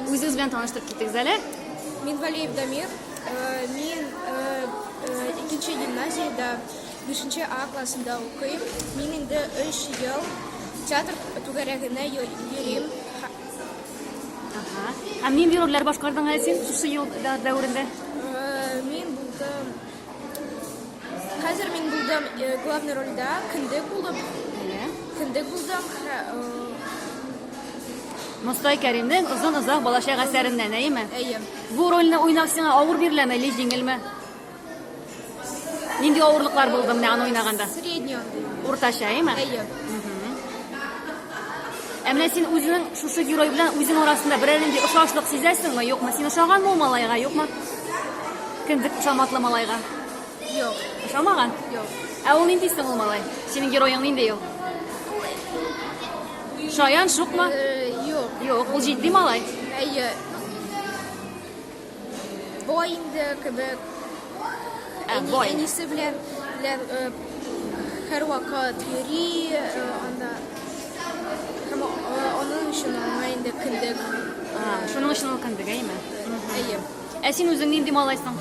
Үзегез белән таныштырып китегез әле. Мин Валеев Дамир. Э, мин э, э, икенче гимназиядә 5 А классында укыйм. Мин инде 3 ел театр түгәрәгенә йөрим. Ага. Ә нинди рольләр башкардың әле син шушы ел дәверендә? Мин булдым Хәзер мин булдым э, главный рольдә, кендек булып. Әйе. Кендек булдым. Хә- э, Мостай Кәримнең озын озак балачак әсәреннән, әйеме? Әйе. Бу рольне уйнау сиңа авыр биреләме, или җиңелме? Нинди авырлыклар булды менә аны уйнаганда? Средний андый. Уртача, әйеме? Әйе. Ә менә син үзенең шушы герой белән үзең арасында берәр нинди ошашлык сизәсеңме, юкмы? Син ошаганмы ул малайга, юкмы? Кендек ошаматлы малайга. Юк. Ошамаган? Юк. Ә ул нинди соң ул малай? Синең героең нинди ул? Шаян, шукмы? Э, юк. Юк, ул җитди малай. Әйе. Бай инде кебек. Ә, Әни, бай. Әнисе белән, белән э, һәрвакыт йөри, э, анда һәм э, аның өчен аңа инде кендек. А, Шуның өчен ул кендек, әйеме? Әйе. Ә син үзең нинди малайсың?